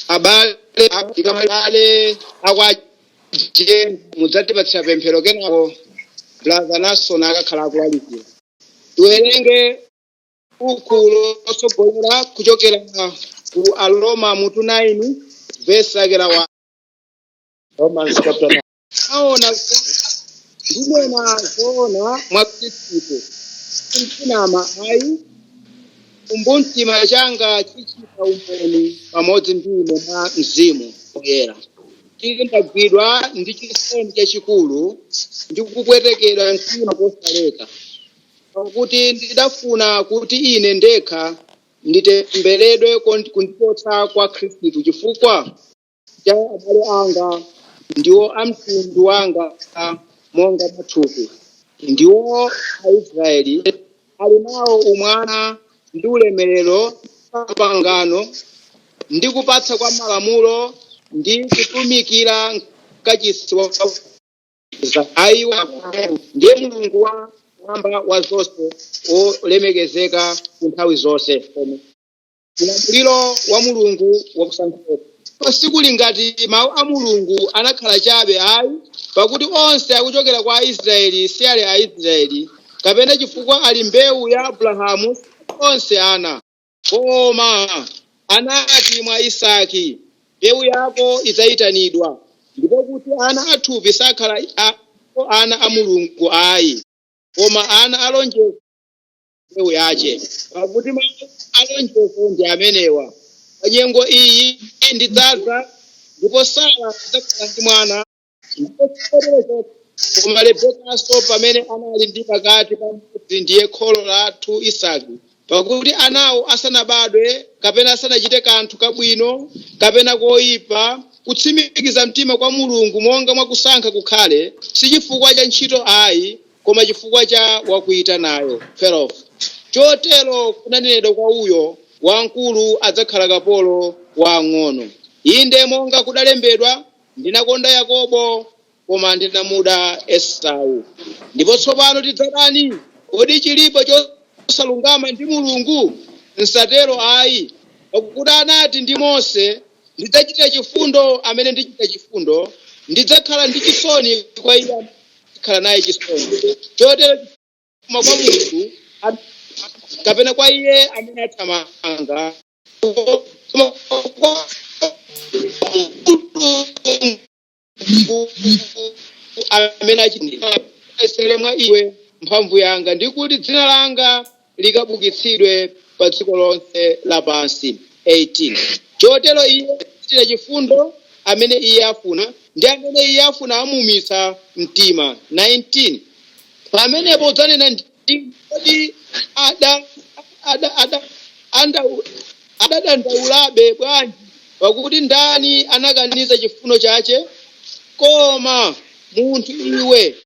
abale Kamalakwa mudzatipatsa pemphero kenako brother nason akakhala akulalikira tiwerenge buku lotsogolera kuchokera ku aroma mutu 9 vesi lake la 1 Romans chapter 9. ndinena zoona mwa khristu sinama ayi chikumbumtima changa chichita umboni pamodzi ndi ine mwa mzimu woyera kuti ndagwidwa ndi chisoni chachikulu ndi kupwetekedwa mtima kosaleka pakuti ndidafuna kuti ine ndekha nditembereredwe kon- kundichotsa kwa khristu chifukwa cha abale anga ndiwo a mtundu wanga monga mwa thupi ndiwo aisraeli ali nawo umwana ndi ulemerero ndi mapangano ndi kupatsa kwa malamulo ndi kutumikira mkachisi wa za ayi wa kumwamba ndiye mulungu wa mwamba wa zonse wolemekezeka ku nthawi zonse Amen. ulamuliro wa mulungu wakusankha koma sikuli ngati mawu a mulungu anakhala chabe ayi pakuti onse akuchokera kwa aisraeli si ali aisraeli kapena chifukwa ali mbewu ya abrahamu onse ana Koma anati, Mwa Isaki mbewu yako idzayitanidwa. Ndiko kuti ana a thupi sakhala a, iwo ana a Mulungu ayi, koma ana a lonjezo ndi mbewu yace. Pakuti mau a lonjezo ndi amenewa, Pa nyengo iyi ndidzadza, ndipo Sara adzakhala ndi mwana. ndipo si chotero chokha koma rebekanso pamene anali ndi pakati pa mmodzi ndiye kholo lathu isaki pakuti anawo asanabadwe kapena asanachite kanthu kabwino kapena koyipa kutsimikiza mtima kwa mulungu monga mwakusankha kukhale si chifukwa cha ntchito ayi koma chifukwa cha wakuyitanayo 12 chotero kunanenedwa kwa uyo wamkulu adzakhala kapolo wa wamng'ono inde monga kudalembedwa Ndinakonda Yakobo, koma ndinamuda Esau. Ndipo tsopano tidzati chiyani? Kodi chilipo chosalungama ndi Mulungu? Msatero ayi. Pakuti anati ndi Mose, Ndidzachitira chifundo amene ndichitira chifundo, ndidzakhala ndi chisoni kwa iye amene ndikhala naye chisoni. Chotero sichifuma kwa munthu, kapena kwa iye amene athamanga. amene achindisere mwa iwe mphamvu yanga ndi kuti dzina langa likabukitsidwe pa dziko lonse lapansi 18 chotero iye achitira chifundo amene iye afuna ndi amene iye afuna amuumitsa mtima 19 pamenepo udzanena ndi Kodi ada- ada- ada- andau- adadandaulabe bwanji pakuti ndani anakaniza chifuno chache koma munthu iwe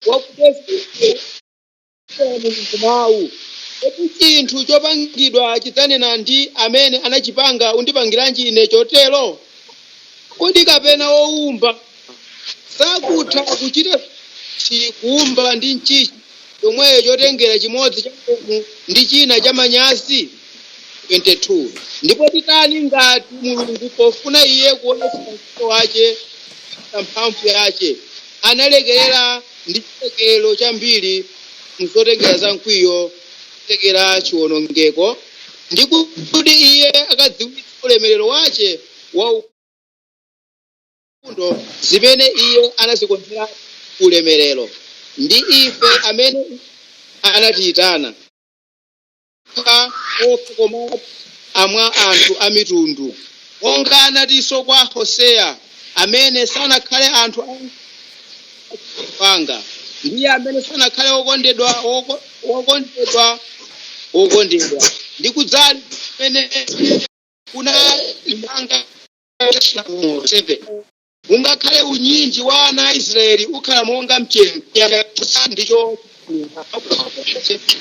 wakubwezera mawu kodi chinthu chopangidwa chidzanena ndi amene anachipanga undipangiranji ine chotero kodi kapena woumba sakutha kuchita chi kuumba ndi nchinchi yomweyo chotengera chimodzi cha ulemu ndi china cha manyazi 22 ndipo titani ngati mulungu pofuna iye kuonetsa mkwiyo wace na mphamvu yace analekerera ndi chilekerero chambiri zotengera za mkwiyo zokonzekera chiwonongeko ndi kuti iye akadziwitsa ulemerero wace wa chifundo zimene iye anazikonzeratu kuulemerero. Ndi ife amene iye anatiyitana, monga okha komatu a mwa anthu a mitundu. Monga anatinso kwa Hoseya, Amene sanakhale anthu anga anachita anthu anga, ndi amene sanakhale wokondedwa woko- wokondedwa wokondedwa. Ndi kudzali kumene kunali manga ungakhale unyinji wa ana a israeli ukhala monga mchenga ndicho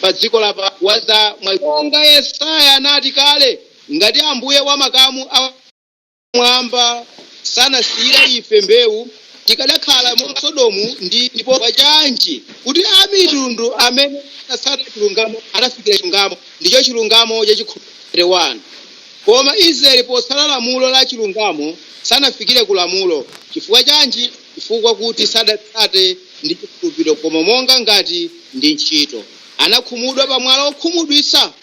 pa dziko lapa waza mwa monga yesaya anati kale ngati ambuye wa makamu a kumwamba sanasiyira ife mbewu tikadakhala monga sodomu ndi ndipo pachanji kuti amitundu amene sanatsata chilungamo anafikira chilungamo ndicho chilungamo cha chikhulupiriro 1 Koma Israeli potsata lamulo la chilungamo sanafikire ku lamulo. Chifukwa chanji? Chifukwa kuti sadatsate ndi chikhulupiriro koma monga ngati ndi ntchito. Anakhumudwa pa mwala wokhumudwitsa,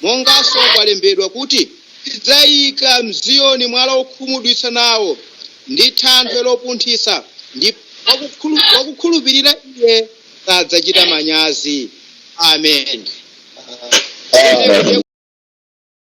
monganso kwalembedwa kuti. Ndidzaika m'Ziyoni mwala wokhumudwitsa nawo, ndi thanthwe lophunthwitsa, ndipo wakukhulupirira Iye sadzachita manyazi. Amen. Zimenezi ndiye.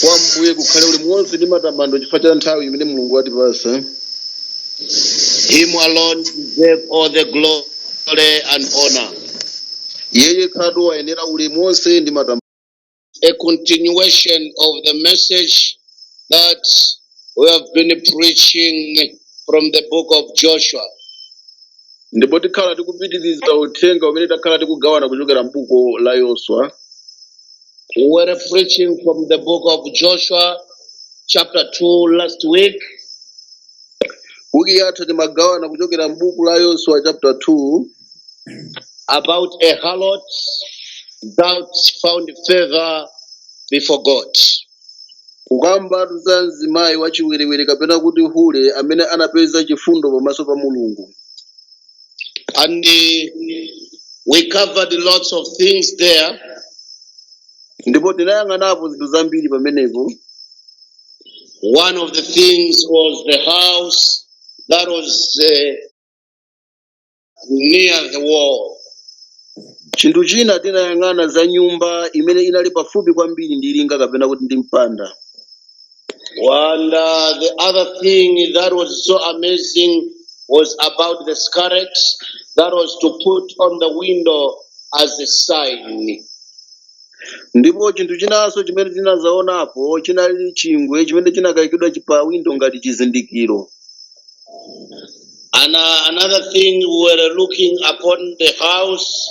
kwa mbuye kukhale ulemu wonse ndi matamando chifukwa cha nthawi imene mulungu watipasa Him alone deserve all the glory and honor. yeye khatu wayenera ulemu wonse ndi matamando A continuation of the message that We have been preaching from the book of Joshua. ndipo tikhala tikupitiriza uthenga umene takhala tikugawana kuchokera m'buku la yoswa We were preaching from the book of Joshua, chapter 2, last week. wiki yatha timagawana kuchokera m'buku la yoswa chapter 2 about a harlot that found favor before God. kukambatu za mzimayi wachiwerewere kapena kuti hule amene anapeza chifundo pamaso pa mulungu And uh, we covered lots of things there. ndipo tinayang'anapo zinthu zambiri pamenepo One of the things was the house that was uh, near the wall. chinthu china tinayang'ana za nyumba imene inali pafupi kwambiri ndi linga kapena kuti ndi mpanda And uh, the other thing that was so amazing was about the scarlet that was to put on the window as a sign. ndipo chinthu chinanso chimene tinazaonapo chinali chingwe chimene chinakayikidwa chi- pa windo ngati chizindikiro And uh, another thing, we were looking upon the house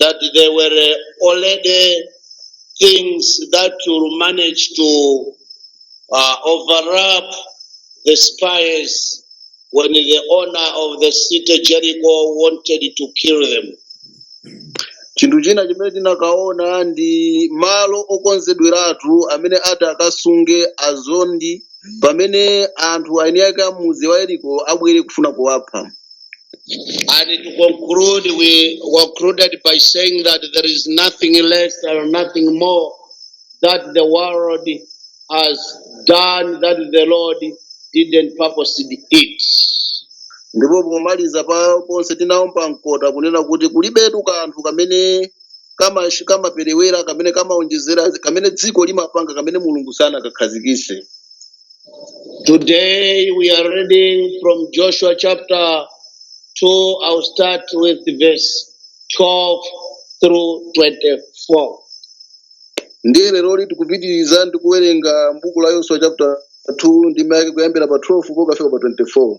that there were uh, already things that will manage to uh, overlap the spies when the owner of the city Jericho wanted to kill them. chinthu china chimene tinakaona ndi malo okonzedweratu amene ati akasunge azondi pamene anthu eni ake a mudzi wa yeriko abwere kufuna kuwapha And to conclude, we concluded by saying that there is nothing less or nothing more that the world has done that the Lord didn't purpose it. ndipo pomaliza penipeni tinaomba mkota kunena kuti kulibetu kanthu kamene kama kamaperewera kamene kamaonjezera kamene dziko limapanga kamene mulungu sanakakhazikise Today we are reading from Joshua chapter 2. I'll start with verse 12 through 24. ndiye leroli tikupitiriza ndi kuwerenga mbuku la yoswa chapter 2 ndime yake kuyambira pa 12 pokafika pa 24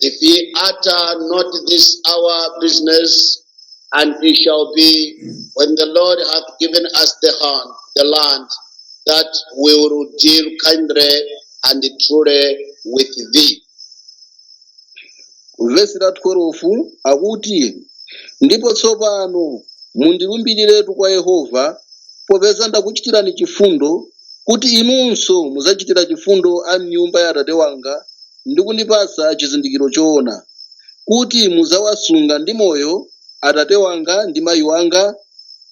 If ye utter not this our business, and it shall be when the Lord hath given us the hand, the land, that we will deal kindly and truly with thee. vesi la 12 akuti ndipo tsopano mundilumbiriretu kwa yehova popeza ndakuchitirani chifundo kuti inunso mudzachitira chifundo a m'nyumba ya atate wanga ndi kundipatsa chizindikiro choona, kuti mudzawasunga ndi moyo atate wanga ndi mayi wanga,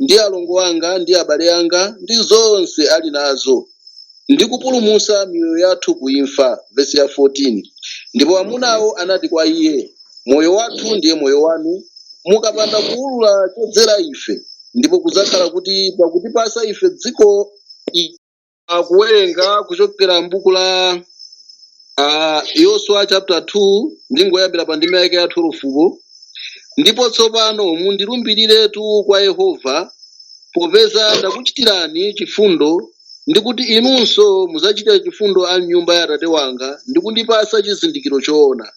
ndi alongo anga ndi abale anga, ndi zonse ali nazo, ndi kupulumutsa miyoyo yathu ku imfa. Vesi ya 14 Ndipo amunawo anati kwa iye, Moyo wathu ndiye moyo wanu, mukapanda kuulula chodzera ife, ndipo kudzakhala kuti pakutipatsa ife dziko i- uh, kuwerenga kuchokera m'buku la uh, Yoswa chapter 2 ndingoyambira pa ndima yake ya 12 ndipo tsopano mundilumbiriretu kwa yehova popeza ndakuchitirani chifundo ndikuti inunso mudzachitira chifundo a nyumba ya atate wanga ndi kundipatsa chizindikiro choona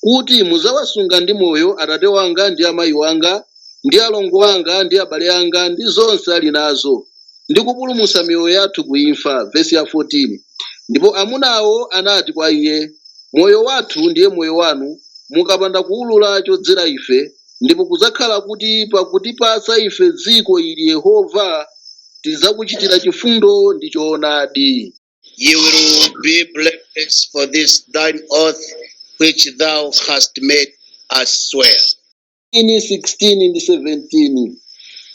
kuti mudzawasunga ndi moyo atate wanga ndi amayi wanga ndi alongo anga ndi abale anga ndi zonse ali nazo ndi kupulumutsa miyoyo yathu ku imfa, vesi ya 14, ndipo amunawo anati kwa iye, Moyo wathu ndiye moyo wanu, mukapanda kuulula chodzera ife, ndipo kudzakhala kuti pakutipatsa ife dziko ili Yehova, tidzakuchitira chifundo ndi choonadi. We will be blameless of this thine oath which thou hast made us swear. 15 ndi 17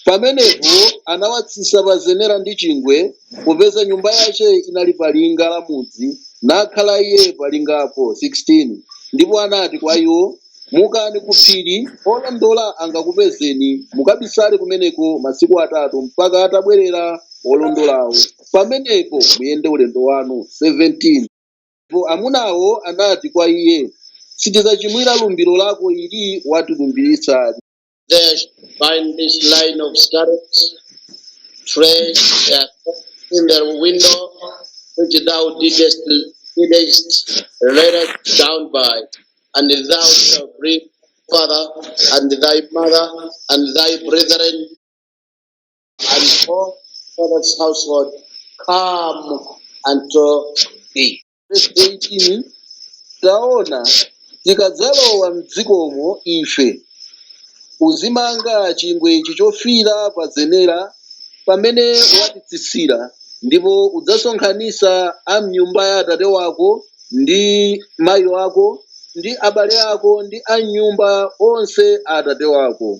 pamenepo anawatsitsa pa zenera ndi chingwe popeza nyumba yache inali pa linga la mudzi nakhala iye palingapo 16 ndipo anati kwa iwo mukani ku phiri olondola angakupezeni mukabisale kumeneko masiku atatu mpaka atabwerera olondolawo pamenepo muyende ulendo wanu 17 Ndipo amunawo anati kwa iye, Sitidzachimwira lumbiro lako ili watilumbiritsa. There shall find this line of scarabs, tread their coats in their window, which thou didst, didst let us down by, and thou shalt bring father and thy mother and thy brethren and all thy father's household home unto thee. Verse 18, taona tikadzalowa mdzikomo ife uzimanga chingwe ichi chofira pa zenera pamene watitsitsira ndipo udzasonkhanisa a mnyumba ya atate wako ndi mayi wako ndi abale ako ndi a mnyumba onse a atate wako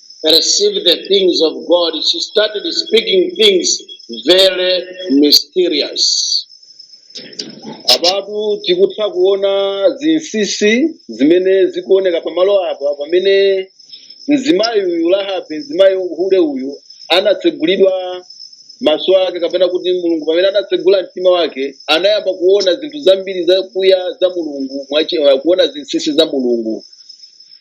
perceive the things of God, she started speaking things very mysterious. apatu tikutha kuona zinsinsi zimene zikuoneka pamalo apa pamene mzimayi uyu rahabi mzimayi hule uyu anatsegulidwa maso ake kapena kuti mulungu pamene anatsegula mtima wake anayamba kuona zinthu zambiri zakuya za mulungu mwachi- kuona zinsinsi za mulungu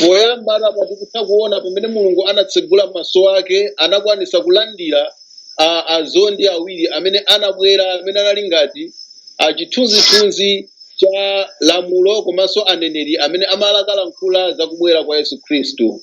poyamba apa tikutha kuona pamene mulungu anatsegula maso ake anakwanisa kulandira a- azondi awiri amene anabwera amene anali ngati chithunzithunzi cha lamulo komanso aneneri amene amalakalankhula za kubwera kwa yesu khristu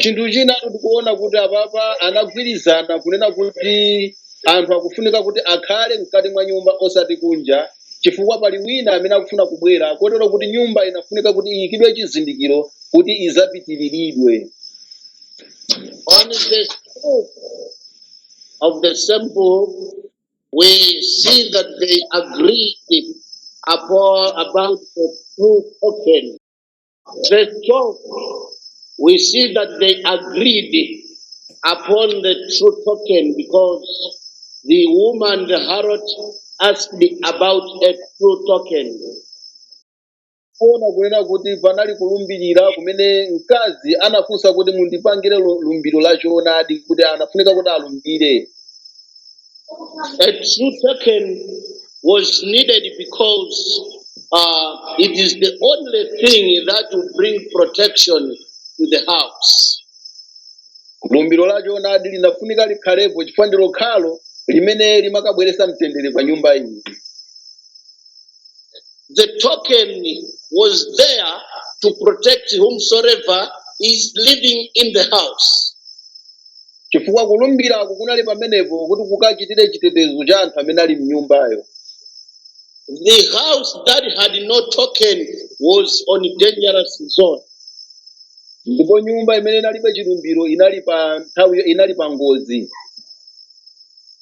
chinthu china tikuona kuti apapa anagwirizana kunena kuti anthu akufunika kuti akhale mkati mwa nyumba osati kunja chifukwa pali wina amene akufuna kubwera kotero kuti nyumba inafunika kuti iyikidwe chizindikiro kuti idzapitiriridwe On the scope of the symbol, we see that they agreed upon about the true token. Verse 12, we see that they agreed upon the true token because the woman, the harlot, asked about a true token. kuona kunena kuti panali kulumbirira kumene mkazi anafunsa kuti mundipangire lu- lumbiro la choonadi kuti anafunika kuti alumbire a true token was needed because uh, it is the only thing that will bring protection to the house. lumbiro la choonadi linafunika likhalepo chifukwa ndi lokhalo limene limakabweretsa mtendere pa nyumba iyi The token was there to protect whomsoever is living in the house. chifukwa kulumbirako kunali pamenepo kuti kukachitire chitetezo cha anthu amene ali mnyumbayo The house that had no token was on dangerous zone. ndipo nyumba imene inalibe chilumbiro inali pa nthawiyo inali pa ngozi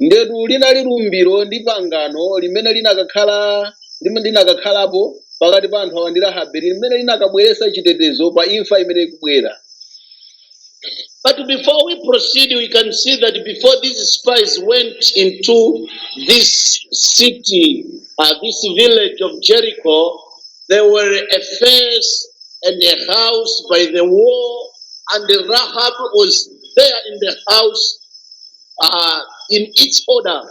ndetu linali lumbiro ndi pangano limene linakakhala limene linakakhalapo pakati pa anthu awa ndi rahabe limene linakabweretsa chitetezo pa imfa imene ikubwera But before we proceed, we can see that before these spies went into this city, uh, this village of Jericho, there were a fence and a house by the wall, and Rahab was there in the house uh, in its order.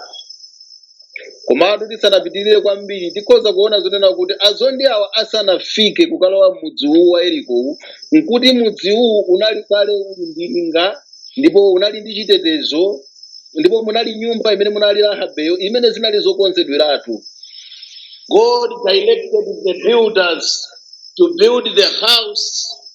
komatu tisanapitirire kwambiri tikhoza kuona zonena kuti azondi awa asanafike kukalowa mudzi uwu wa Yerikowu nkuti mudzi uwu unali kale uli ndi linga ndipo unali ndi chitetezo ndipo munali nyumba imene munali rahabeyo imene zinali zokonzedweratu God directed the builders to build the house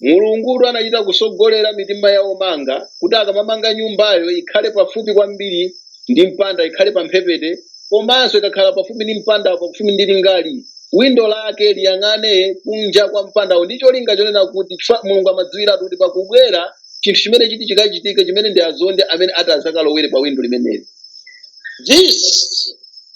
Mulungutu anachita kutsogolera mitima ya omanga kuti akamamanga nyumbayo ikhale pafupi kwambiri ndi mpanda, ikhale pamphepete, komanso ikakhala pafupi ndi mpandawo, pafupi ndi lingali, windo lake liyang'ane kunja kwa mpandawo ndi cholinga chonena kuti chifukwa Mulungu amadziwiratu kuti pakubwera chinthu chimene chiti chikachitike chimene ndi azondi amene ati adzakalowere pa windo limeneli. This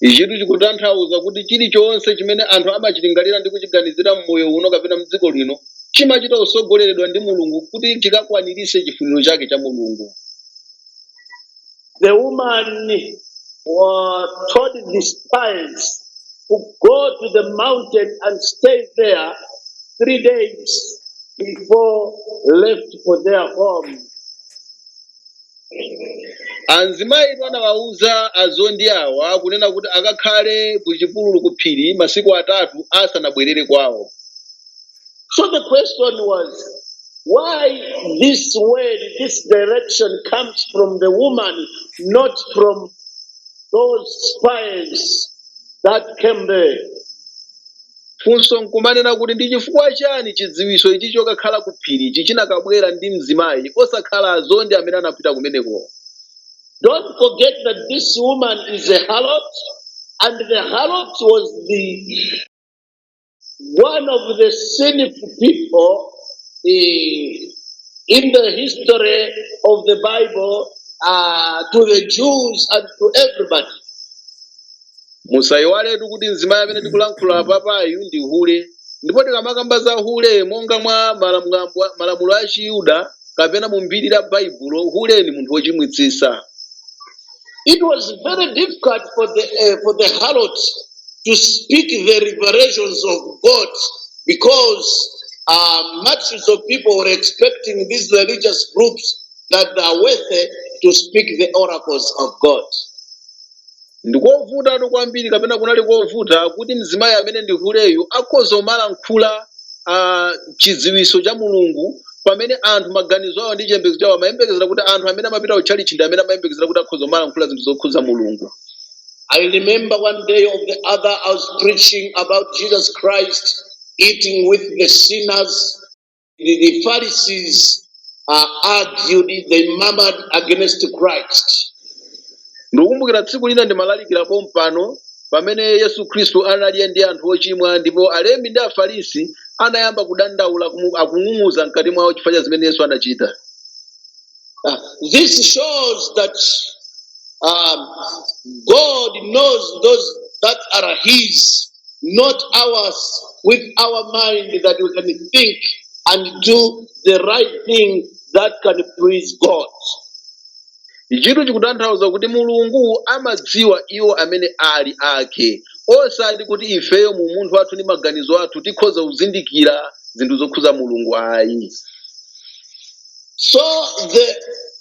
ichitu chikutanthauza kuti chilichonse chimene anthu amachilingalira ndi kuchiganizira m'moyo uno kapena mdziko lino chimachita kutsogoleredwa ndi mulungu kuti chikakwanirise chifuniro chake cha mulungu The woman has told the spies to go to the mountain and stay there three days before left for their home. amzimayi uyu anawauza azondi awa kunena kuti akakhale ku chipululu ku phiri masiku atatu asanabwerere kwawo So the question was, why this word, this direction comes from the woman, not from those spies that came there? Funso n'kumanena kuti ndi chifukwa chani chidziwitso ichi chokakhala ku phirichi chinakabwera ndi mzimayi osakhala azondi amene anapita kumenekowo? Don't forget that this woman is a harlot, and the harlot was the one of the sinful people eh, in the history of the Bible uh, to the Jews and to everybody. musayiwaletu kuti mzimayi amene tikulankhula papayu ndi hule ndipo tikamakamba za hule monga mwa malamulo- malamulo a chiyuda kapena mu mbiri la baibulo hule ni munthu wochimwitsitsa It was very difficult for the uh, for the harlot to speak the revelations of God because uh, multitudes of people were expecting these religious groups that are worthy to speak the oracles of God. Ndikovutatu kwambiri kapena kunali kovuta kuti mzimayi amene ndi huleyu akhoze kumalankhula ah, chidziwitso cha Mulungu pamene anthu maganizo awo ndi chiyembekezo chawo amayembekezera kuti anthu amene amapita ku tchalitchi ndi amene amayembekezera kuti akhoza kumalankhula zinthu zokhudza Mulungu. I remember one day or the other, I was preaching about Jesus Christ eating with the sinners. the Pharisees uh, argued, they murmured against Christ. ndikukumbukira tsiku lina ndimalalikira pompano pamene yesu khristu anali ndi anthu ochimwa ndipo alembi ndi afarisi anayamba kudandaula kumu- akung'ung'uza mkati mwawo chifukwa cha zimene yesu anachita Uh, this shows that um, God knows those that are His not ours with our mind that we can think and do the right thing that can please God. Ichitu chikutanthauza kuti Mulungu amadziwa iwo amene ali ake, osati kuti ifeyo mu umunthu wathu ndi maganizo athu tikhoza kuzindikira zinthu zokhuza Mulungu ayi. So the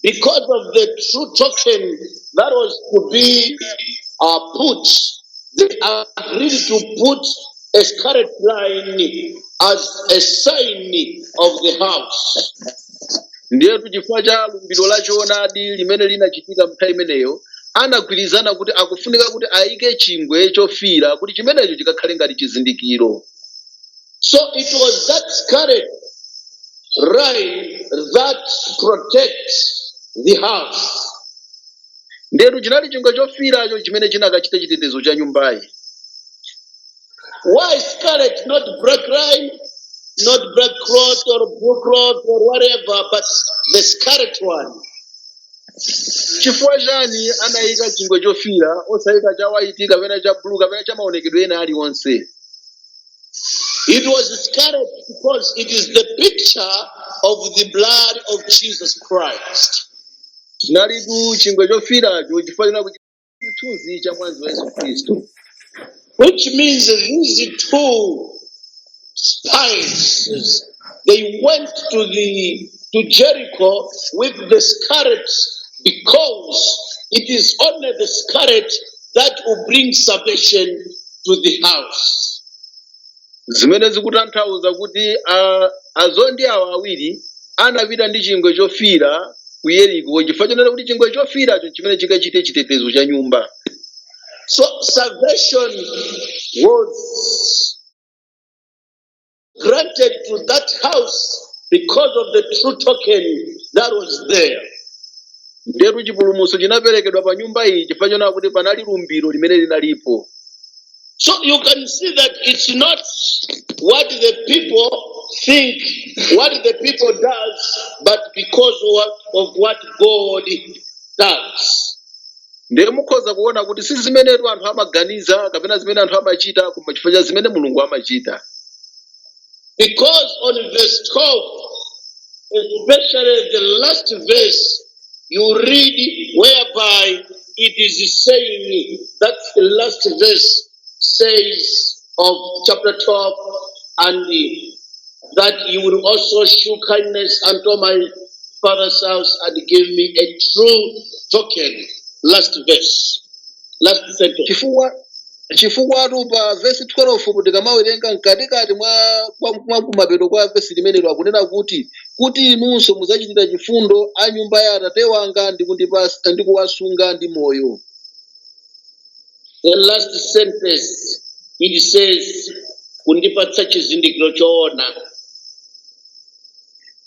because of the true token that was to be uh, put, they agreed to put a scarlet line as a sign of the house. ndiyetu chifukwa cha lumbiro la choonadi limene linachitika mnthawi imeneyo anagwirizana kuti akufunika kuti ayike chingwe chofiira kuti chimenecho chikakhale ngati chizindikiro So it was that scarlet line that protects the house. Ndetu chinali chingwe chofiiracho chimene chinakachite chitetezo cha nyumbayi. Why scarlet, not black line, not black cloth or blue cloth or whatever, but the scarlet one? Chifukwa chani anayika chingwe chofiira osayika cha white kapena cha blue kapena cha maonekedwe ena aliwonse? It was scarlet because it is the picture of the blood of Jesus Christ. chinalitu chingwe chofiracho chifukwa chinali chithunzi cha mwazi wa yesu khristu Which means that these two spies They went to the to Jericho with the scarlet because it is only the scarlet that will bring salvation to the house. zimene zikutanthauza kuti a- azondi awa awiri anapita ndi chingwe chofiira ku yeriko chifukwa chonena kuti chingwe chofiiracho chimene chikachite chitetezo cha nyumba So salvation was granted to that house because of the true token that was there. Ndetu chipulumutso chinaperekedwa pa nyumba iyi chifukwa chonena kuti panali lumbiro limene linalipo. So you can see that it's not what the people think, what the people does, but because of what, of what God does. ndiye mukhoza kuona kuti si zimenetu anthu amaganiza kapena zimene anthu amachita koma chifukwa cha zimene mulungu amachita Because on verse 12, especially the last verse, you read whereby it is saying, that's the last verse, says of chapter 12 and that you will also show kindness unto my father's house and give me a true token. Last verse, last sentence. chifukwa chifukwatu pa vesi 12 kuti tikamawerenga mkatikati mwa kwa- mwa kumapeto kwa vesi limenelo akunena kuti kuti inunso mudzachitira chifundo a nyumba ya atate wanga ndi kundipatsa ndi kuwasunga ndi moyo The last sentence it says kundipatsa chizindikiro choona.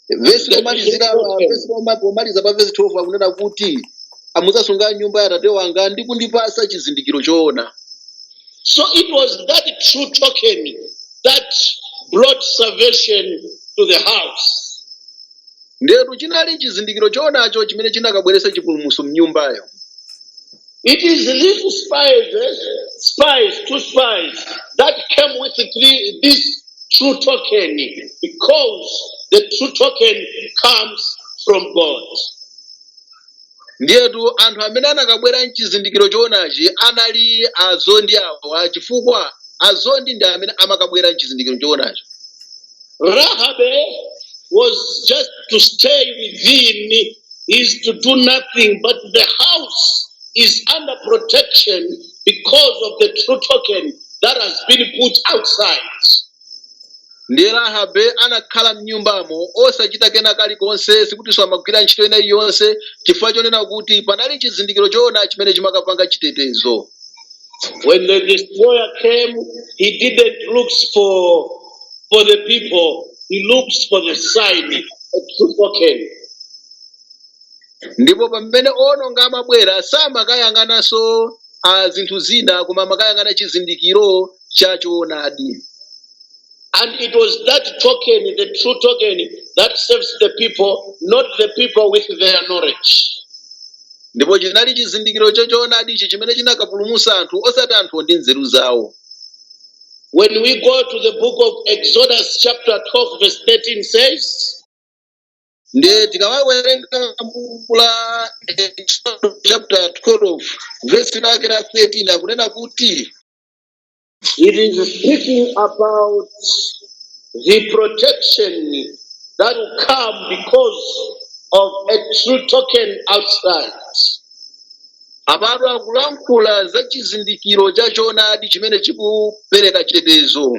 vesi lomalizira vesi loma- lomaliza pa vesi 12 akunena kuti mudzasunga nyumba ya atate wanga ndi kundipasa chizindikiro choona So it was that true token that brought salvation to the house. ndetu chinali chizindikiro choonacho chimene chinakabweretsa chipulumutso mnyumbayo It is these spies, spies, two spies that came with the true, this true token because the true token comes from God. ndiyetu anthu amene anakabwera nchizindikiro chowonachi anali azondi awa chifukwa azondi ndi amene amakabwera nchizindikiro chowonacho Rahabe was just to stay within, is to do nothing, but the house is under protection because of the true token that has been put outside. ndiye rahabe anakhala mnyumbamo osachita kena kalikonse sikutinso amagwira ntchito ina iliyonse chifukwa chonena kuti panali chizindikiro choona chimene chimakapanga chitetezo When the destroyer came, he didn't look for for the people. He looks for the sign of true token. ndipo pamene ononga amabwera samakayang'ananso zinthu zina koma amakayang'ana chizindikiro cha choonadi And it was that token, the true token, that saves the people, not the people with their knowledge. ndipo chinali chizindikiro cha choonadi ichi chimene chinakapulumutsa anthu osati anthuwo ndi nzeru zawo When we go to the book of Exodus, chapter 12, verse 13 says, ndiye tikawerenga buku la Exodus chapter 12 verse lake la 13 akunena kuti It is speaking about the protection that came because of a true token outside. Apatu akulankhula za chizindikiro cha choonadi chimene chikupereka chitetezo.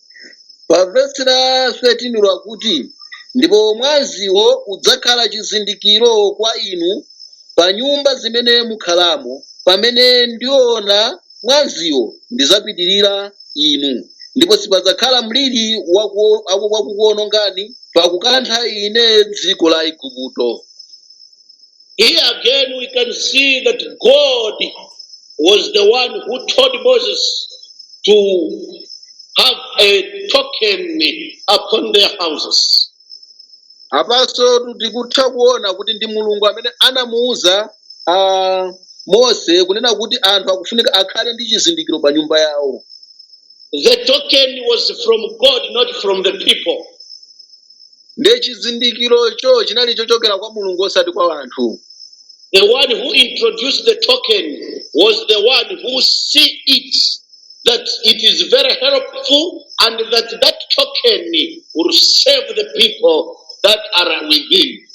pa vesi la 13 lakuti ndipo mwaziwo udzakhala chizindikiro kwa inu pa nyumba zimene mukhalamo pamene ndiona mwaziwo ndizapitirira inu ndipo sipadzakhala mliri waku- aku- wakukuonongani pakukantha ine dziko la aigupto Here again, we can see that God was the one who told Moses to have a token upon their houses. apanso tikutha kuona kuti ndi mulungu amene anamuwuza ah, mose kunena kuti anthu akufunika akhale ndi chizindikiro pa nyumba yawo The token was from God, not from the people. ndiye chizindikirocho chinali chochokera kwa mulungu osati kwa anthu The one who introduced the token was the one who see it that it is very helpful and that that token will save the people that are within.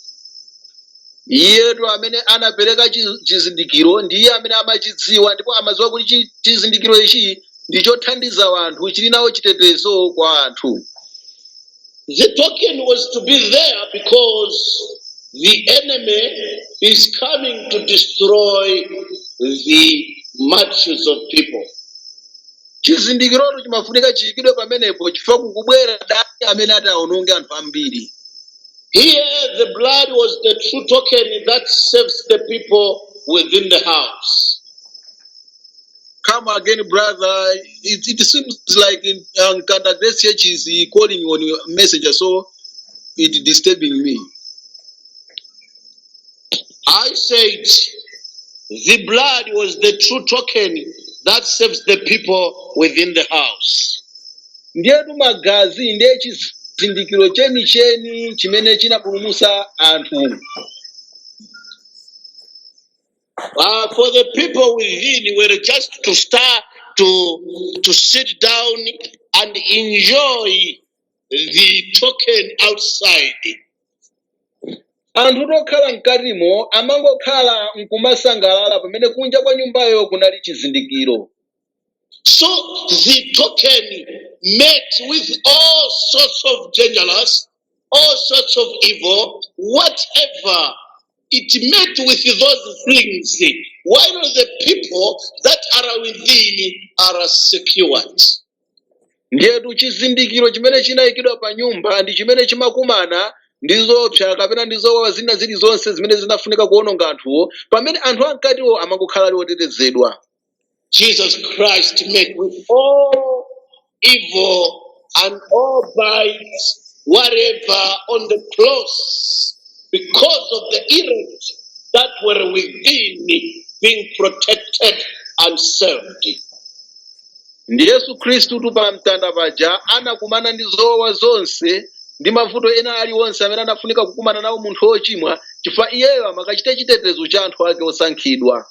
iyetu amene anapereka chi- chizindikiro ndi iye amene amachidziwa ndipo amadziwa kuti chi- chizindikiro ichi ndi chothandiza anthu chili nawo chitetezo kwa anthu The token was to be there because the enemy is coming to destroy the multitudes of people. chizindikirotu chimafunika chiikidwe pamenepo chifukwa kukubwera mdani amene ataononge anthu ambiri Here, the blood was the true token that saves the people within the house. Come again, brother. It, it seems like in um, Kanda Grace Church is uh, calling on your messenger, so it disturbing me. I said the blood was the true token that saves the people within the house. Ndiyetu magazi ndiye chizindikiro chenicheni chimene chinapulumutsa anthu. Uh, for the people within were just to start to to sit down and enjoy the token outside. anthutu okhala mkatimo amangokhala nkumasangalala pamene kunja kwa nyumbayo kunali chizindikiro So the token met with all sorts of dangerous, all sorts of evil, whatever it met with those things, while the people that are within are secured. ndiyetu chizindikiro chimene chinayikidwa pa nyumba ndi chimene chimakumana ndi zoopsa kapena ndi zowawa zina zilizonse zimene zinafunika kuononga anthuwo pamene anthu amkatiwo amangokhala ali otetezedwa Jesus Christ met with all evil and all bites, whatever on the cross, because of the elect that were within being protected and saved. ndiye yesu khristutu pa mtanda paja anakumana ndi zowawa zonse ndi mavuto ena aliwonse amene anafunika kukumana nawo munthu wochimwa chifukwa iyeyo amakachita chitetezo cha anthu ake osankhidwa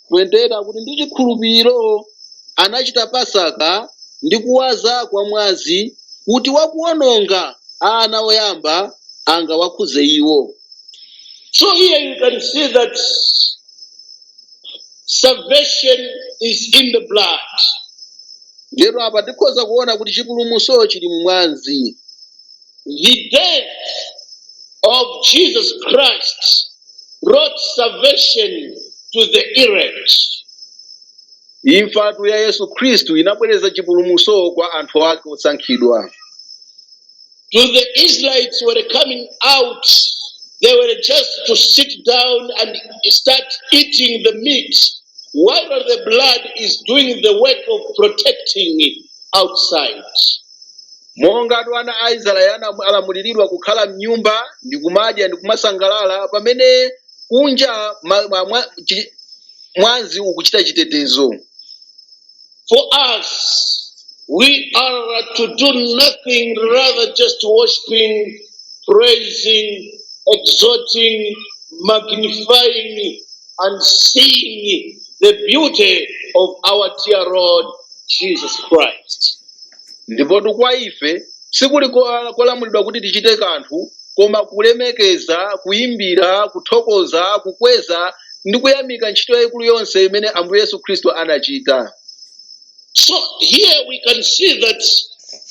28 akuti ndi chikhulupiriro anachita pasaka ndi kuwaza kwa mwazi kuti wakuononga ana oyamba angawakhudze iwo So here you can see that salvation is in the blood. ndiyeno apa tikhoza kuona kuti chipulumutso chili mumwazi The death of Jesus Christ brought salvation to the elect. imfatu ya yesu khristu inabweretsa chipulumutso kwa anthu ake osankhidwa To the Israelites who were coming out, they were just to sit down and start eating the meat, while the blood is doing the work of protecting outside. monga ana a israeli anam- alamuliridwa kukhala mnyumba ndi kumadya ndi kumasangalala pamene kunja ma- ma- mwa- chi- mwazi ukuchita chitetezo For us, we are to do nothing rather just worshiping, praising, exhorting, magnifying, and seeing the beauty of our dear Lord Jesus Christ. ndipotu kwa ife sikuli ko- kolamulidwa kuti tichite kanthu koma kulemekeza kuyimbira kuthokoza kukweza ndi kuyamika ntchito yayikulu yonse imene ambuye yesu khristu anachita So here we can see that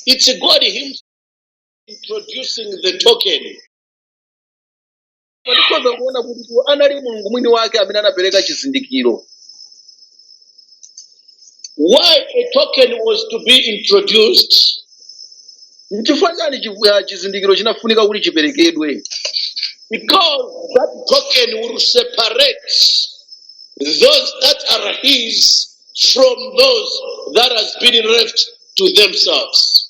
it's God Himself introducing the token. Koma tikhoza kuona kutitu anali mulungu mwini wake amene anapereka chizindikiro Why a token was to be introduced? nchifukwa chani chivu- ah, chizindikiro chinafunika kuti chiperekedwe Because that token will separate those that are his from those that has been left to themselves.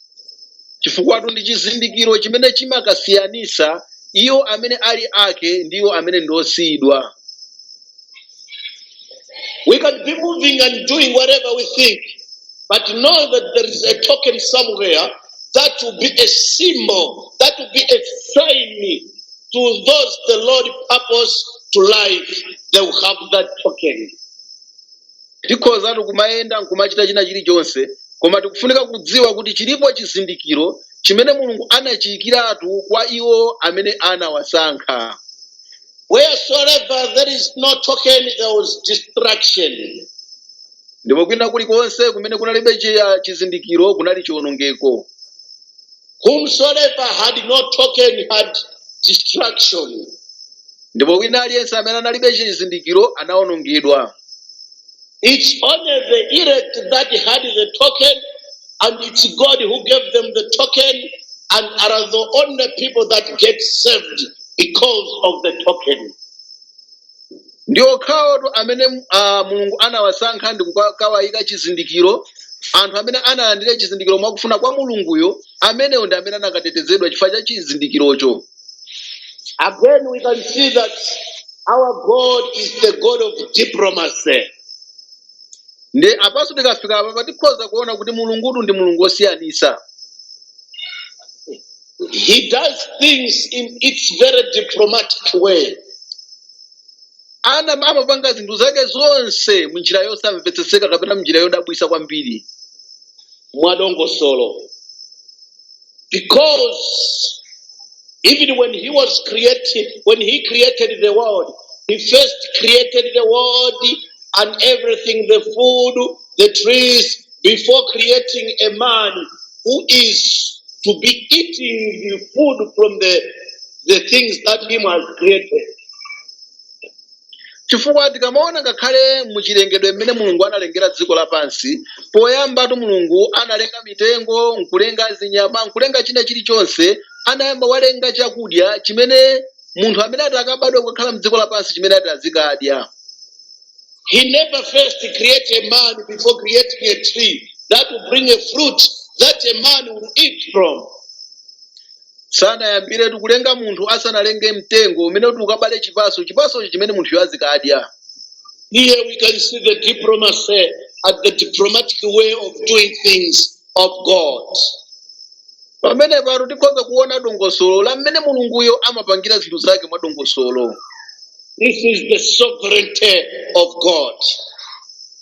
chifukwatu ndi chizindikiro chimene chimakasiyanisa iwo amene ali ake ndi iwo amene ndi osiyidwa We can be moving and doing whatever we think, but know that there is a token somewhere that will be a symbol, that will be a sign to those the Lord purpose to life. They will have that token. tikhozatu kumayenda nkumachita china chilichonse koma tikufunika kudziwa kuti chilipo chizindikiro chimene mulungu anachiyikiratu kwa iwo amene anawasankha Wheresoever there is no token, there was destruction. ndipo kwina kulikonse kumene kunalibe chiya- chizindikiro kunali chiwonongeko Whomsoever had no token had destruction. ndipo wina aliyense amene analibe chizindikiro anawonongedwa It's only the elect that had the token, and it's God who gave them the token, and are the only people that get saved because of the token. ndi okhawotu amene uh, mulungu anawasankha ndi kukawayika chizindikiro anthu amene analandira chizindikiro mwakufuna kwa mulunguyo amenewo ndi amene anakatetezedwa chifukwa cha chizindikirocho Again, we can see that our God is the God of diplomacy. ndi apanso tikafika apa tikhoza kuona kuti mulungutu ndi mulungu wosiyanisa He does things in its very diplomatic way. ana- amapanga zinthu zake zonse munjira yosamvetsetseka kapena munjira yodabwisa kwambiri mwadongosolo because even when he was created when he created the world he first created the world and everything the food the trees before creating a man who is to be eating the food from the, the things that he has created. chifukwa tikamaona ngakhale mu chilengedwe mmene mulungu analengera dziko lapansi poyambatu mulungu analenga mitengo nkulenga zinyama nkulenga china chilichonse anayamba walenga chakudya chimene munthu amene ati akabadwe kukakhala mdziko lapansi chimene ati azikadya He never first create a man before creating a tree that will bring a fruit that a man will eat from. sanayambire nkulenga munthu asanalenge mtengo umene uti ukabale chipaso chipasocho chimene munthuyo azikadya Here we can see the diplomacy and the diplomatic way of doing things of God. pamenepatu tikhoza kuona dongosolo la mmene mulunguyo amapangira zinthu zake mwa dongosolo This is the sovereignty of God.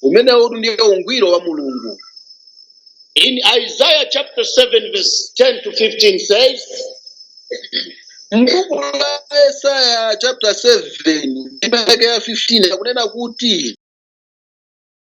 umenewutu ndiye ungwiro wa mulungu In Isaiah chapter 7, verse 10 to 15 says, mbuku la yesaya chapter 7 ndime yake ya 15 akunena kuti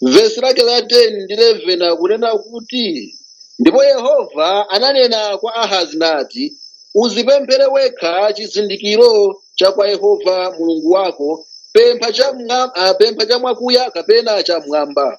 vesi lake la 10 ndi 11 akunena kuti ndipo yehova ananena kwa ahazi nati uzipemphere wekha chizindikiro cha kwa yehova mulungu wako pempha cha mwa- ah, pempha cha mwakuya kapena cha mwamba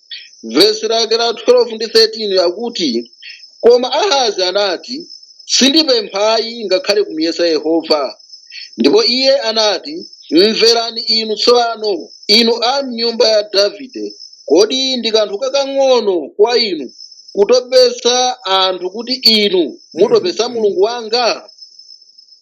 vesi lake la 12 ndi 13 akuti koma ahazi anati sindipemphayi ngakhale kumuyesa yehova ndipo iye anati mverani inu tsopano inu a mnyumba ya davide kodi ndi kanthu kakang'ono kwa inu kutopesa anthu kuti inu mutopesa mulungu wanga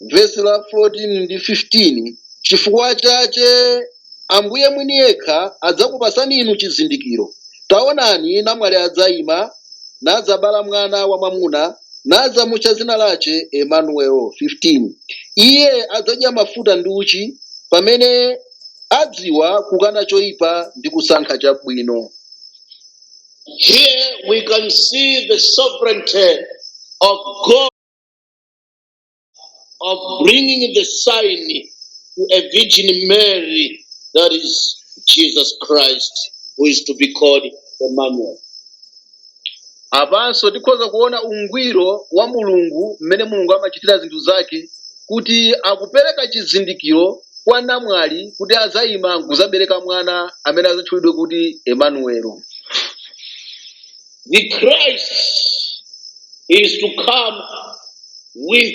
vesi la 14 ndi 15 chifukwa chache ambuye mwini yekha adzakupasani inu chizindikiro taonani namwali adzayima nadzabala mwana wamamuna nadzamutcha zina lache emanuelo 15 iye adzadya mafuta ndi uchi pamene adziwa kukana choyipa ndi kusankha chabwino Here we can see the sovereignty of God. of bringing the sign to a Virgin Mary, that is Jesus Christ, who is to be called Emmanuel. apanso tikhoza kuona ungwiro wa mulungu mmene mulungu amachitira zinthu zake kuti akupereka chizindikiro kwa namwali kuti azayima nkuzabereka mwana amene azatchulidwe kuti emanuelo The Christ is to come with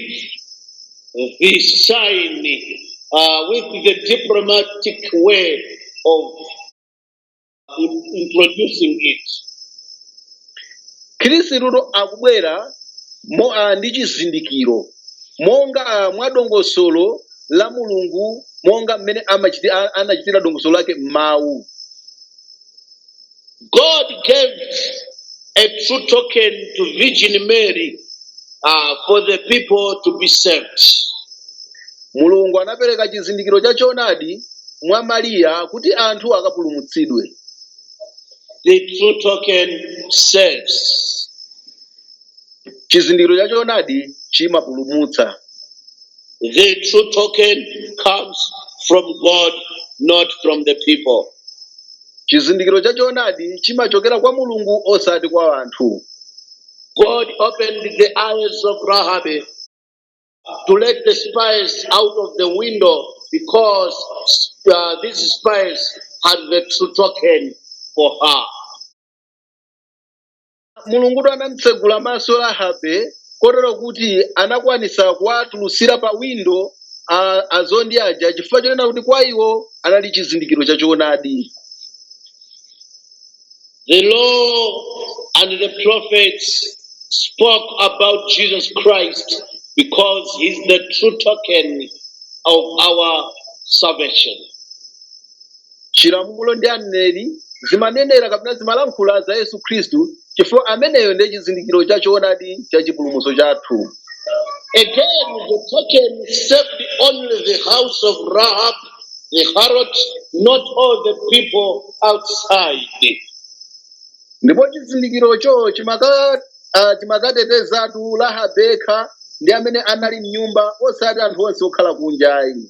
the sign, uh, with the diplomatic way of in- introducing it. khristutu akubwera ah, ndi chizindikiro monga ah, mwa dongosolo la mulungu monga mmene amachiti- a- anachitira dongosolo lake m'mawu God gave a true token to Virgin Mary uh, for the people to be saved. mulungu anapereka chizindikiro cha choonadi mwa mariya kuti anthu akapulumutsidwe The true token saves. chizindikiro cha choonadi chimapulumutsa The true token comes from God, not from the people. chizindikiro cha choonadi chimachokera kwa mulungu osati kwa anthu God opened the eyes of Rahab to let the spies out of the window because uh, these spies had the true token for her. mulungutu anamtsegula maso rahabe kotero kuti anakwanisa kuwatulutsira pa windo a- azondi aja chifukwa chonena kuti kwa iwo anali chizindikiro cha choonadi The law and the prophets spoke about Jesus Christ because he's the true token of our salvation. chilamulo ndi aneneri zimanenera kapena zimalankhula za yesu khristu chifukwa ameneyo ndiye chizindikiro cha choonadi cha chipulumutso chathu Again, the token saved only the house of Rahab, the harlot, not all the people outside. ndipo chizindikirocho chimaka- ah, chimakatetezatu rahabe yekha ndi amene anali mnyumba osati anthu onse okhala kunjayi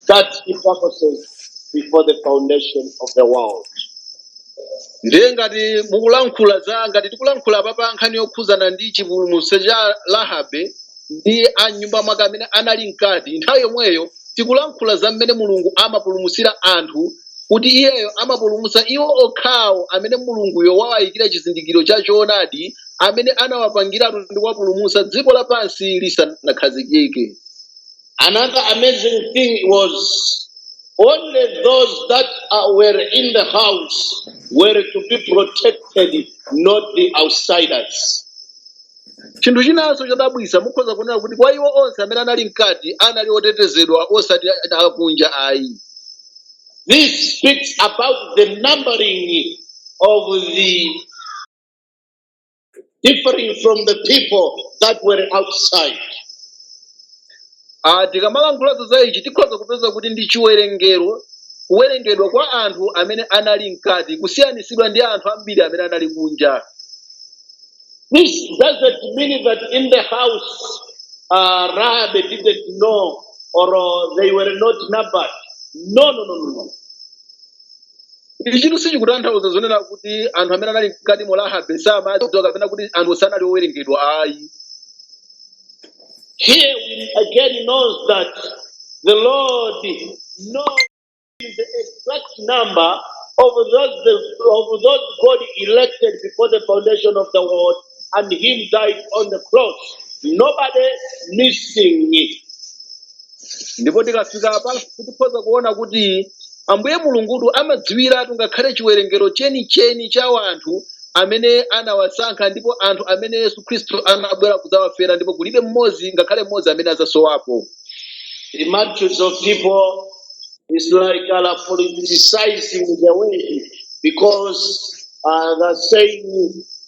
such hypocrisies before the foundation of the world. ndiye ngati mukulankhula za ngati tikulankhula apa pa nkhani yokhuzana ndi chipulumutso cha rahabe ndi a nyumba mwake amene anali mkati nthawi yomweyo tikulankhula za mmene mulungu amapulumutsira anthu kuti iyeyo amapulumutsa iwo okhawo amene mulunguyo wawayikira chizindikiro cha choonadi amene anawapangiratu ndi kuwapulumutsa dziko lapansi lisanakhazikike Another amazing thing was only those that uh, were in the house were to be protected, not the outsiders. chinthu chinanso chodabwitsa mukhoza kuona kuti kwa iwo onse amene anali mkati anali otetezedwa osati akunja ayi This speaks about the numbering of the differing from the people that were outside. Ah, tikamalankhula za ichi tikhoza kupeza kuti ndi chiwerengero kuwerengedwa kwa anthu amene anali mkati kusiyanitsidwa ndi anthu ambiri amene anali kunja This doesn't mean that in the house, uh, Rahab didn't know or uh, they were not numbered. No, no, no, no, no. ichitu sichikutanthauza zonena kuti anthu amene anali mkati mwa rahabe samawadziwa kapena kuti anthu sanali owerengedwa ayi Here we again know that the Lord knows the exact number of those the, of those God elected before the foundation of the world, and Him died on the cross. Nobody missing it. ndipo tikafika apanso tikhoza kuona kuti ambuye mulungutu amadziwiratu ngakhale chiwerengero chenicheni cha anthu amene anawasankha ndipo anthu amene yesu khristu anabwera kudzawafera ndipo kulibe mmodzi ngakhale mmodzi amene adzasowapo The multitudes of people is like uh, politicizing the way because uh, they're saying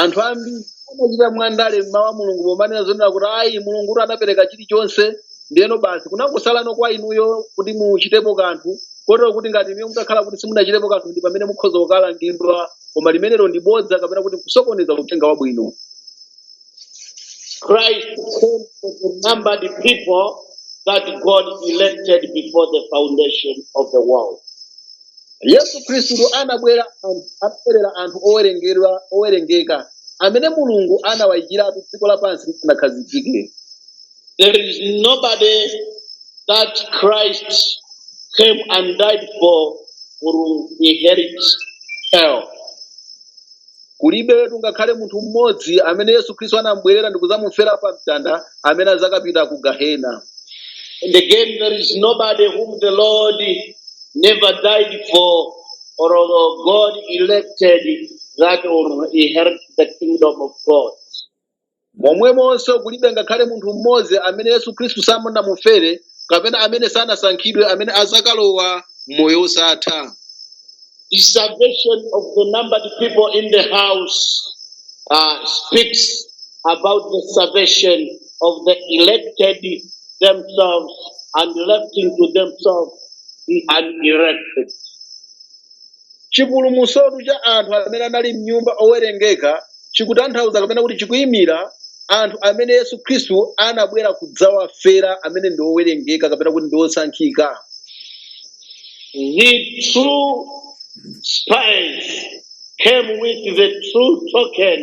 anthu ambiri amachita mwandale mmawu a mulungu pomanena zonena kuti ayi mulungu kuti adapereka chilichonse ndiyeno basi kunangosalano kwa inuyo kuti muchitepo kanthu kotero kuti ngati inuyo mutakhala kuti simunachitepo kanthu ndi pamene mukhoza kukalangidwa koma limenero ndi bodza kapena kuti kusokoneza uthenga wabwino Christ came to the numbered people that God elected before the foundation of the world. yesu khristu anabwera anthu- anabwerera anthu owerengedwa owerengeka amene mulungu anawayikiratu dziko lapansi lisanakhazikike There is nobody that Christ came and died for will inherit hell. kulibetu ngakhale munthu mmodzi amene yesu khristu anamubwerera ndikudzamufera pa mtanda amene adzakapita ku gahena And again, there is nobody whom the Lord never died for, or God elected that will inherit the kingdom of God. momwemonso kulibe ngakhale munthu mmodzi amene yesu khristu sanamufere kapena amene sanasankhidwe amene azakalowa m'moyo wosatha The salvation of the numbered people in the house uh, speaks about the salvation of the elected themselves and left into themselves the unelected. chipulumutsotu cha anthu amene anali m'nyumba owerengeka chikutanthauza kapena kuti chikuyimira anthu amene yesu khristu anabwera kudzawafera amene ndi owerengeka kapena kuti ndi osankhika The true spies came with the true token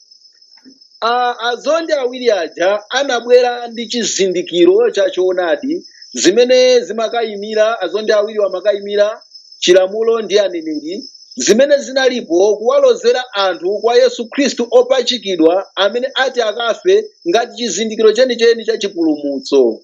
A- azondi awiri aja anabwera ndi chizindikiro cha choonadi zimene zimakayimira azondi awiriwo amakayimira chilamulo ndi aneneri zimene zinalipo kuwalozera anthu kwa yesu khristu opachikidwa amene ati akafe ngati chizindikiro chenicheni cha chipulumutso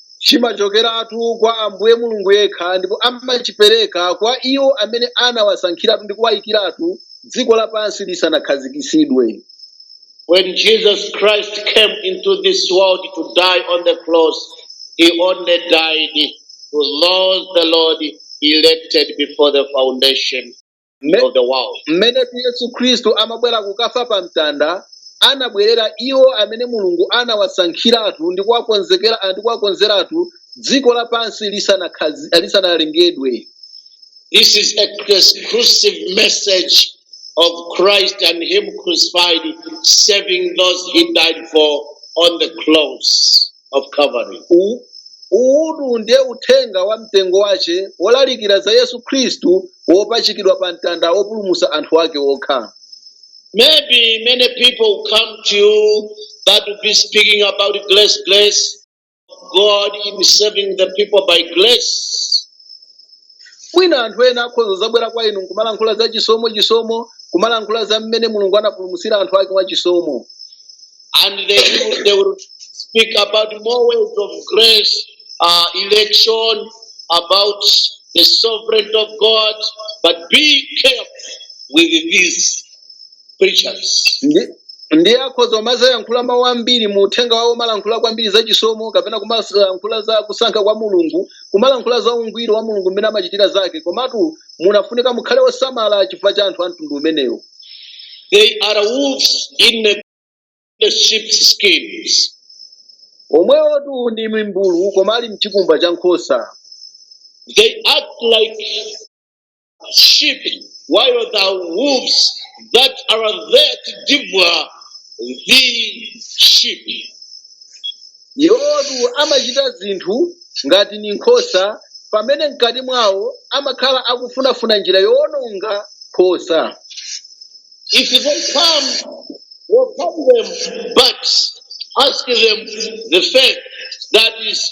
chimachokeratu kwa ambuye mulungu yekha ndipo amachipereka kwa iwo amene anawasankhiratu ndi kuwayikiratu dziko lapansi lisanakhazikitsidwe When Jesus Christ came into this world to die on the cross, he only died for those the Lord elected before the foundation Mme- of the world. mmenetu yesu khristu amabwera kukafa pa mtanda anabwerera iwo amene mulungu anawasankhiratu ndi kuwakonzeratu dziko lapansi lisanalengedwe This is a exclusive message of Christ and Him crucified, saving those He died for on the cross. of Calvary. U- uwutu ndiye uthenga wa mtengo wace wolalikira za yesu khristu wopachikidwa pa mtanda wopulumutsa anthu ake okha Maybe many people will come to you that will be speaking about grace, grace, God in saving the people by grace. mwina anthu ena akhoza kuzabwera kwa inu nkumalankhula za chisomo chisomo kumalankhula za mmene mulungu anapulumutsira anthu ake mwa chisomo and they will, they will speak about more ways of grace, uh, election, about the sovereignty of God. But be careful with these preachers. Ndi- ndiye akhoza kumazayankhula mawu ambiri mu uthenga wawo kumalankhula kwambiri za chisomo kapena kumalankhula za kusankha kwa mulungu kumalankhula za ungwiro wa mulungu mmene amachitira zake komatu mukufunika mukhale osamala chifukwa cha anthu a mtundu umenewo They are wolves in the, the sheep's skins. omwewotu ndi mimbulu koma ali mchikumba cha nkhosa They act like sheep, while the wolves that are there to devour the sheep. Iwowotu amachita zinthu ngati ndi nkhosa pamene mkati mwawo amakhala akufunafuna njira yowononga nkhosa. If you don't come, we'll come them, but ask them the fact that is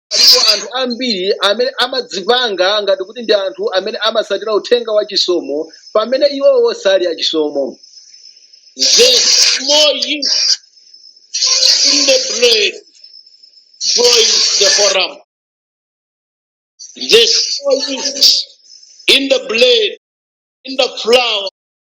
Alipo anthu ambiri amene amadzipanga ngati kuti ndi anthu amene amatsatira uthenga wa chisomo pamene iwowo sali achisomo. The small yeast in the bread spoils the whole lump. The small yeast in the bread, in the flour,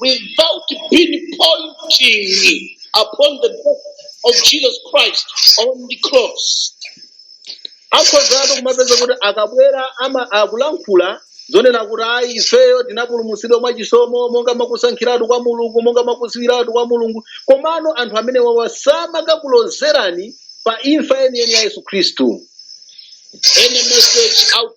without pinpointing upon the death of Jesus Christ on the cross. akhozatu kumapeza kuti akabwera ama akulankhula zonena kuti ayi ifeyo tinapulumutsidwa mwa chisomo monga mwa kusankhiratu kwa mulungu monga mwa kudziwiratu kwa mulungu komano anthu amenewawa samakakulozerani pa imfa yeniyeni ya yesu khristu Any message out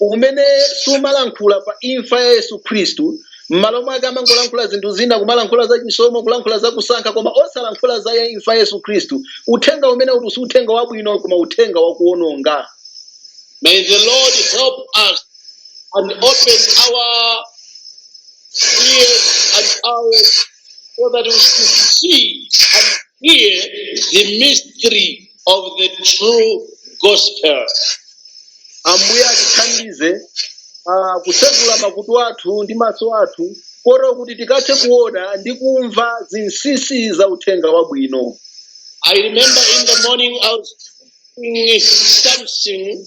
umene sumalankhula pa imfa ya yesu khristu m'malo mwake amangolankhula zinthu zina kumalankhula za chisomo kulankhula za kusankha koma osalankhula za imfa ya yesu khristu uthenga umene uti si uthenga wabwino koma uthenga wakuononga May the Lord help us and open our ears and eyes so that we should see and hear the mystery of the true gospel. ambuye atithandize ah, kutsegula makutu athu ndi maso athu kotero kuti tikathe kuona ndi kumva zinsinsi za uthenga wabwino I remember in the morning I was doing something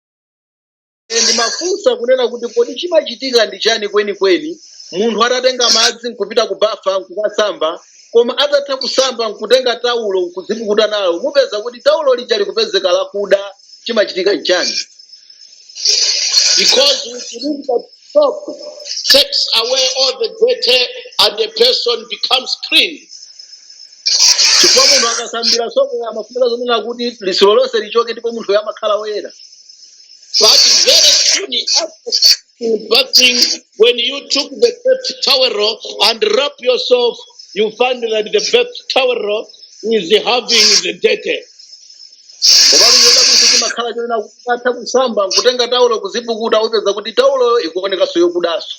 Ine ndimafunsa kunena kuti kodi chimachitika ndi chani kwenikweni munthu atatenga madzi nkupita ku bafa nkukasamba koma atatha kusamba nkutenga taulo nkudzipukuta nalo mupeza kuti taulo lija likupezeka lakuda chimachitika nchani because we believe that soap takes away all the dirty and the person becomes clean. chifukwa munthu akasambira sopo amafunika zonena kuti litsiro lonse lichoke ndipo munthu amakhala woyera But very soon after bathing, when you took the bath towel and wipe yourself, you find that the bath towel is having the dirty. komatu chodabwitsa chimakhala chonena kuti atatha kusamba nkutenga taulo kudzipukuta upeza kuti tauloyo ikuonekanso yokudanso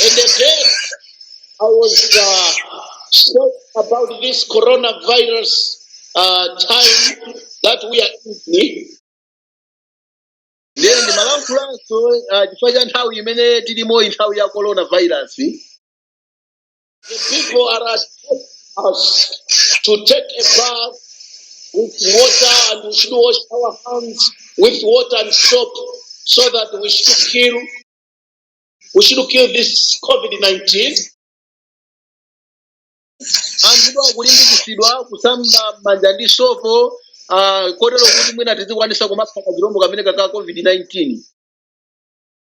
And then I was uh, talking about this coronavirus uh, time that we are in. ndiye ndimalankhulanso ah, chifukwa cha nthawi imene tilimoyi nthawi ya coronavirus The people are urged to take a bath with water and we should wash our hands with water and soap so that we should kill we should kill this COVID-19. anthu akulimbikitsidwa kusamba manja ndi sopo ah, kotero kuti mwina tizikwanisa kumapha kachilombo kameneka ka covid-19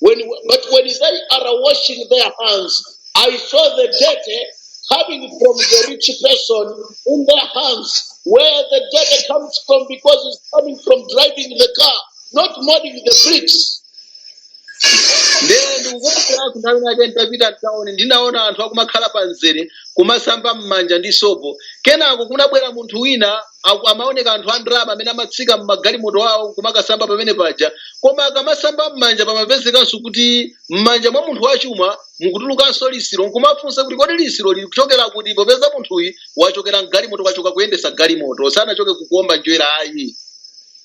When, but when they are washing their hands, I saw the dirt coming from the rich person in their hands, where the dirt comes from because it's coming from driving the car, not molding the bricks. ndee ndikukumbukira kunthawi nake nditapita mtauni ndinaona anthu akumakhala pa mzere kumasamba m'manja ndi sopo kenako kunabwera munthu wina aku- amaoneka anthu a ndalama amene amatsika m'magalimoto awo kumakasamba pamene paja koma akamasamba m'manja pamapezekanso kuti m'manja mwa munthu wachuma mukutulukanso lisiro nkumafunsa kuti kodi lisiro lili kuchokera kuti popeza munthuyi wachokera mgalimoto wachoka kuyendesa galimoto sanachoke kukuomba njerwa ayi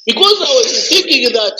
Because I was thinking that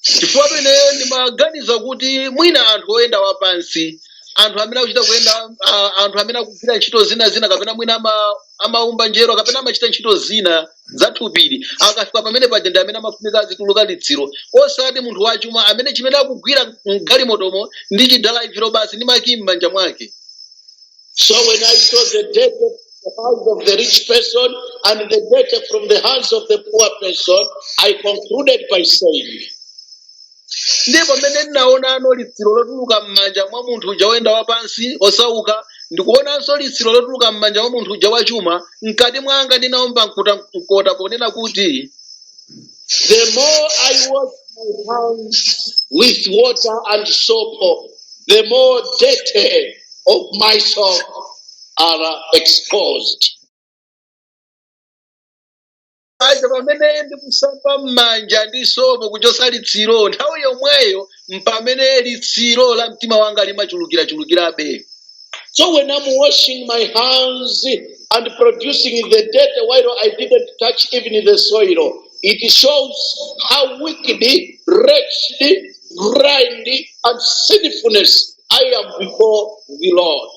chifukwa ineyo ndimaganiza kuti mwina anthu oyenda wapansi anthu amene akuchita kuyenda a- anthu amene akugwira ntchito zina zina kapena mwina ama- amaumba njerwa kapena amachita ntchito zina za thupili akafika pamene paja ndi amene amafunika azituluka litsiro osati munthu wachuma amene chimene akugwira mgalimotomo ndi chidalaivilo basi ndi makiyi m'manja mwake So when I saw the dirt from the hands of the rich person and the dirt from the hands of the poor person, I concluded by saying, ndiye pamene ndinaonano litsiro lotuluka m'manja mwa munthu uja woyenda wapansi osauka ndikuonanso litsiro lotuluka m'manja mwa munthu uja wachuma mkati mwanga ndinaomba mkuta mkota ponena kuti The more I wash my hands with water and soap, the more dirty of my soul are exposed. aja pamene ndikusamba m'manja ndi sopo kuchotsa litsiro nthawi yomweyo mpamene litsiro la mtima wanga limachulukirachulukirabe So when I'm washing my hands and producing the dirt while I didn't touch even the soil, it shows how wicked, wretched, blind and sinfulness I am before the Lord.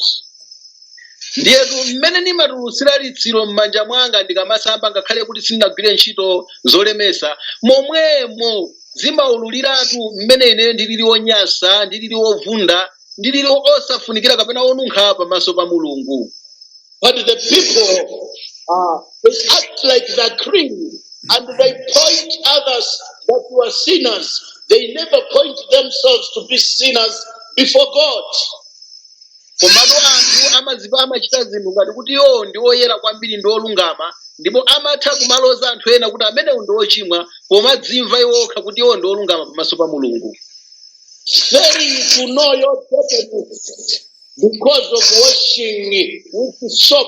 ndiyetu mmene ndimatulutsira litsiro m'manja mwanga ndikamasamba ngakhale kuti sindinagwire ntchito zolemesa momwemo zimaululiratu mmene ine ndilili wonyansa ndilili wovunda ndi lili osafunikira kapena onunkha pamaso pa mulungu But the people, uh, they act like they're clean and they point others that were sinners. They never point themselves to be sinners before God. komatu anthu amadzipha amachita zinthu ngati kuti iwowo ndi oyera kwambiri ndi olungama ndipo amatha kumaloza anthu ena kuti amenewo ndi ochimwa pomadzimva iwo okha kuti iwo ndi olungama pamaso pa mulungu failing to know your destiny because of washing with soap.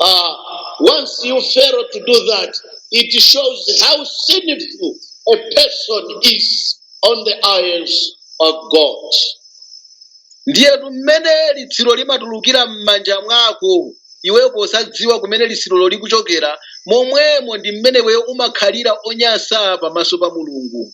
Uh, once you fail to do that, it shows how sinful a person is on the eyes of God. ndiye mmene litsiro limatulukira m'manja mwako iwe osadziwa kumene litsirolo likuchokera momwemo ndi mmene iweyo umakhalira onyansa pamaso pa mulungu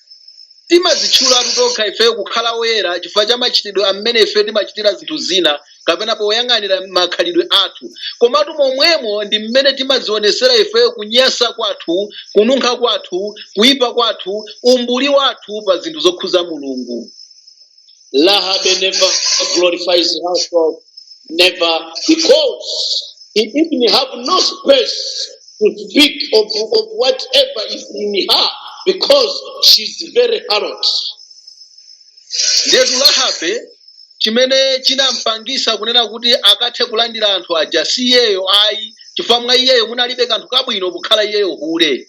Timadzitchulatu tokha ifeyo kukhala oyera chifukwa cha machitidwe a mmene ifeyo timachitira zinthu zina kapena poyang'anira makhalidwe athu. Komatu momwemo ndi mmene timadzionetsera ifeyo kunyansa kwathu, kununkha kwathu, kuipa kwathu, umbuli wathu pa zinthu zokhudza Mulungu. Rahab never glorifies herself, never, because he even have no space to speak of, of whatever is in her, because she's a harlot. ndiyetu Rahabe chimene chinampangisa kunena kuti akathe kulandira anthu aja si iyeyo ayi chifukwa mwa iyeyo munalibe kanthu kabwino kukhala iyeyo hule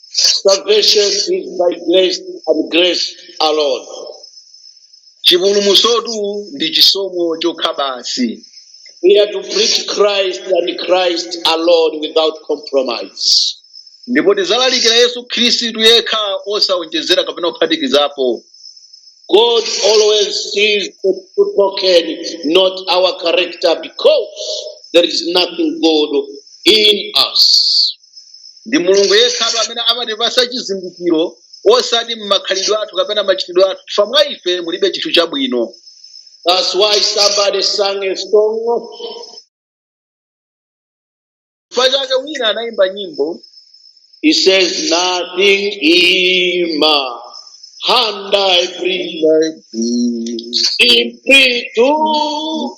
Salvation is by grace and grace alone. chipulumutsotu ndi chisomo chokha basi We are to preach Christ and Christ alone without compromise. ndipo tidzalalikira yesu khristu yekha osawonjezera kapena kuphatikizapo God always sees the true token, not our character, because there is nothing good in us. ndi mulungu yekhatu amene amatipatsa chizindikiro osati makhalidwe athu kapena machitidwe athu chifukwa mwa ife mulibe chinthu chabwino That's why somebody sang a song. chifukwa chake wina anayimba nyimbo He says, Nothing in my hand I bring, simply to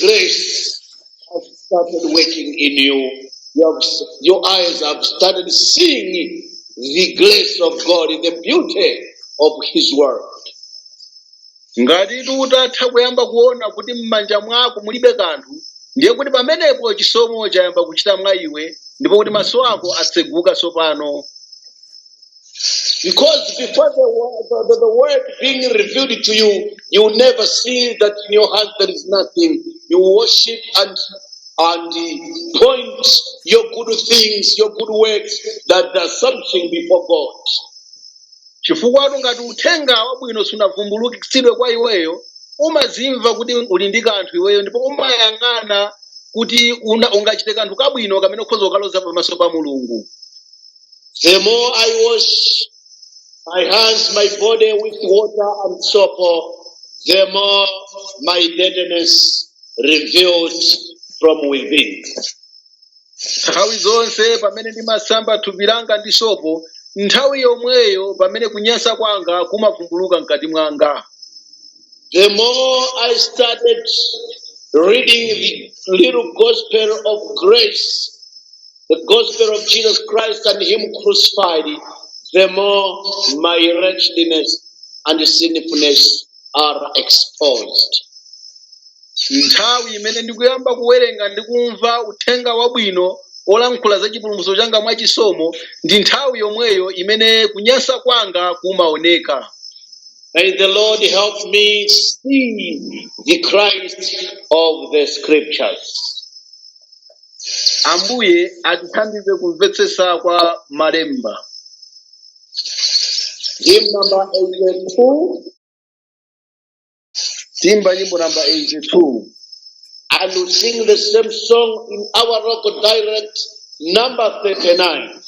Grace has started working in you. You have, your eyes have started seeing the grace of God, the beauty of His Word. ngatitu utatha kuyamba kuona kuti m'manja mwako mulibe kanthu ndiye kuti pamenepo chisomo chayamba kuchita mwa iwe ndipo kuti maso ako atseguka tsopano Because before the, wo- the, the, the word being revealed to you, you will never see that in your heart there is nothing. You worship and and point your good things, your good works, that there's something before God. chifukwa ngati uthenga wabwino sunavumbulutsidwe kwa iweyo umazimva kuti uli ndi kanthu iweyo ndipo umayang'ana kuti una- ungachite kanthu kabwino kamene ukhoza kukaloza pamaso pa mulungu The more I wash my hands, my body with water and soap, the more my deadness revealed from within. nthawi zonse pamene ndimasamba thupi langa ndi sopo nthawi yomweyo pamene kunyansa kwanga kumavumbuluka mkati mwanga The more I started reading the little gospel of grace, The gospel of Jesus Christ and Him crucified, the more my wretchedness and sinfulness are exposed. nthawi imene ndikuyamba kuwerenga ndi kumva uthenga wabwino olankhula za chipulumutso changa mwa chisomo ndi nthawi yomweyo imene kunyansa kwanga kumaoneka May the Lord help me see the Christ of the scriptures. ambuye atithandize kumvetsetsa kwa malemba Hymn number 82. timba nyimbo namba 82 And we sing the same song in our local dialect, number 39.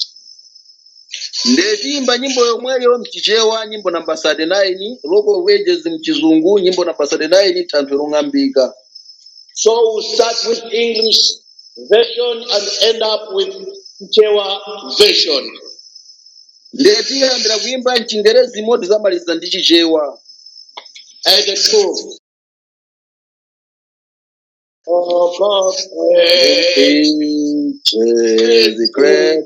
nde timba nyimbo yomweyo mchichewa nyimbo namba 39 Rock of Ages mchizungu nyimbo namba 39 thanthwe long'ambika So we'll start with English version and end up with Chewa version. ndiye tiyambira kuyimba mchingerezi moti zamaliza ndi chichewa And the truth. Oh, God, praise. Praise the great